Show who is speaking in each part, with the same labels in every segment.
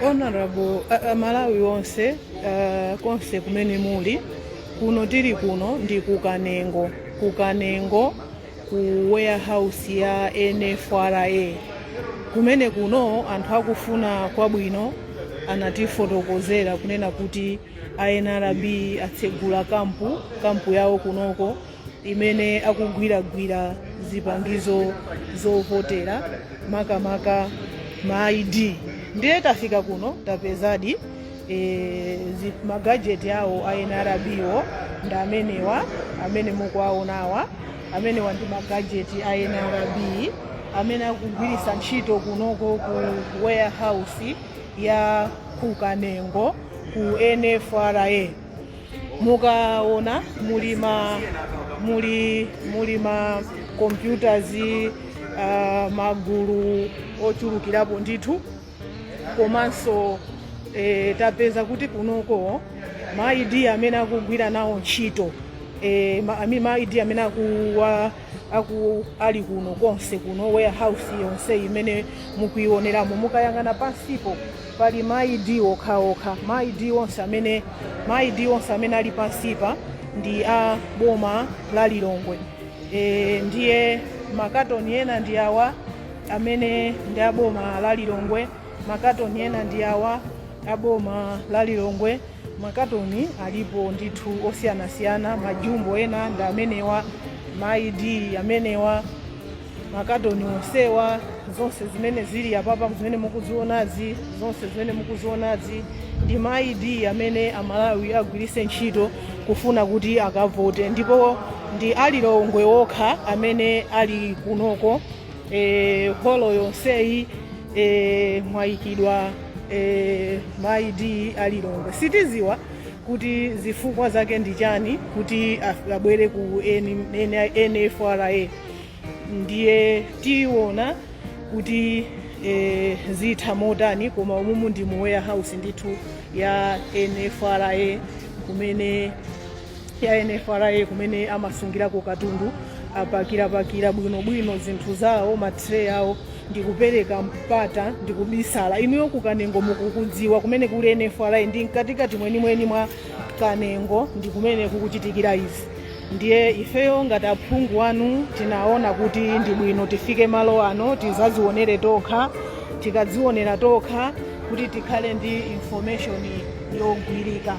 Speaker 1: honorable uh, uh, amalawi onse uh, konse kumene muli kuno tili kuno ndi ku kanengo ku kanengo ku warehouse ya nfra kumene kuno anthu akufuna kwabwino anatifotokozera kunena kuti a nrb atsegula kampu kampu yawo kunoko imene akugwiragwira zipangizo zovotera makamaka ma id ndiye tafika kuno tapezadi e, zi- magajeti awo a nrb wo ndi amenewa amene mukuwaonawa amenewa ndi magajeti a nrb amene akugwiritsa ntchito kunoko ku warehouse ya ku kanengo ku nfra mukaona muli ma muli muli ma computers uh, magulu ochulukirapo ndithu komanso e, tapeza kuti kunoko ma id amene akugwira nawo ntchito e, ma, ami- ma id amene akuwa aku ali kuno konse kuno warehouse yonse imene mukuionelamo mukayang'ana pansipo pali ma id okhaokha ma id onse amene ma id onse amene ali pansipa ndi a boma la lilongwe e, ndiye makatoni ena ndi awa amene ndi a boma la lilongwe makatoni ena ndi awa a boma la lilongwe Makatoni alipo ndithu osiyanasiyana, majumbo ena ndi amenewa, ma ID amenewa, makatoni onsewa, zonse zimene zili apapa zimene mukuzionazi, zonse zimene mukuzionazi ndi ma ID amene Amalawi agwirise ntchito kufuna kuti akavote, ndipo ndi a Lilongwe okha amene ali kunoko. e, holo yonseyi e, mwayikidwa e, ma id a lilongwe sitiziwa kuti zifukwa zake ndi chani kuti af- abwere ku N- N- nfra ndiye tiona kuti e, zitha motani koma umumu ndi mu warehouse ndithu ya nfra kumene ya NFRA kumene amasungirako katundu apakirapakira bwinobwino zinthu zawo matray awo ndikupereka mpata ndikubisala inuyo ku kanengo mukukudziwa kumene kuli NFRA ndi mkatikati mwenimweni mwa kanengo ndi kumene kukuchitikira izi ndiye ifeyo ngati aphungu anu tinaona kuti ndi bwino tifike malo ano tizazionere tokha tikadzionera tokha kuti tikhale ndi information yogwirika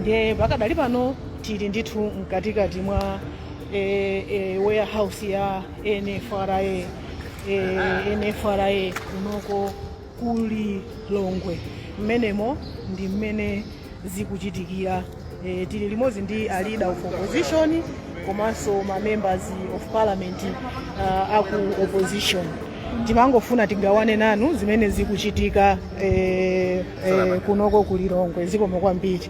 Speaker 1: ndiye pakadali pano tili ndithu mkatikati mwa e, e, warehouse ya nfra e, nfra kunoko ku lilongwe mmenemo ndi mmene zikuchitikira e, tili limodzi ndi a leader of opposition komanso ma members of parliament uh, aku opposition timangofuna tigawane nanu zimene zikuchitika eh, eh, kunoko ku lilongwe zikomo kwambiri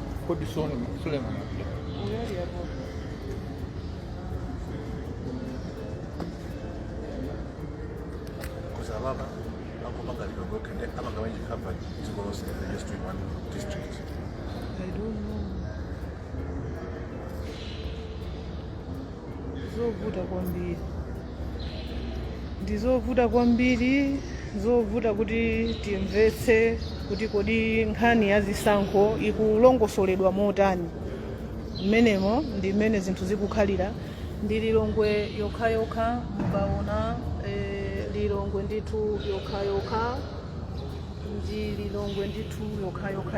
Speaker 2: Kodi Sule- Suleiman akuja? Uyali hapo. Because
Speaker 3: ababa akupanga lidogo kende abanga wenye cover ziko lose in the just in one district. I
Speaker 1: don't know. Zovuta kwambiri. ndi zovuta kwambiri zovuta kuti timvetse kuti kodi nkhani ya zisankho ikulongosoledwa motani mmenemo ndi mmene zinthu zikukhalira ndi lilongwe yokhayokha mukaona eh, lilongwe ndithu yokhayokha ndi lilongwe ndithu yokhayokha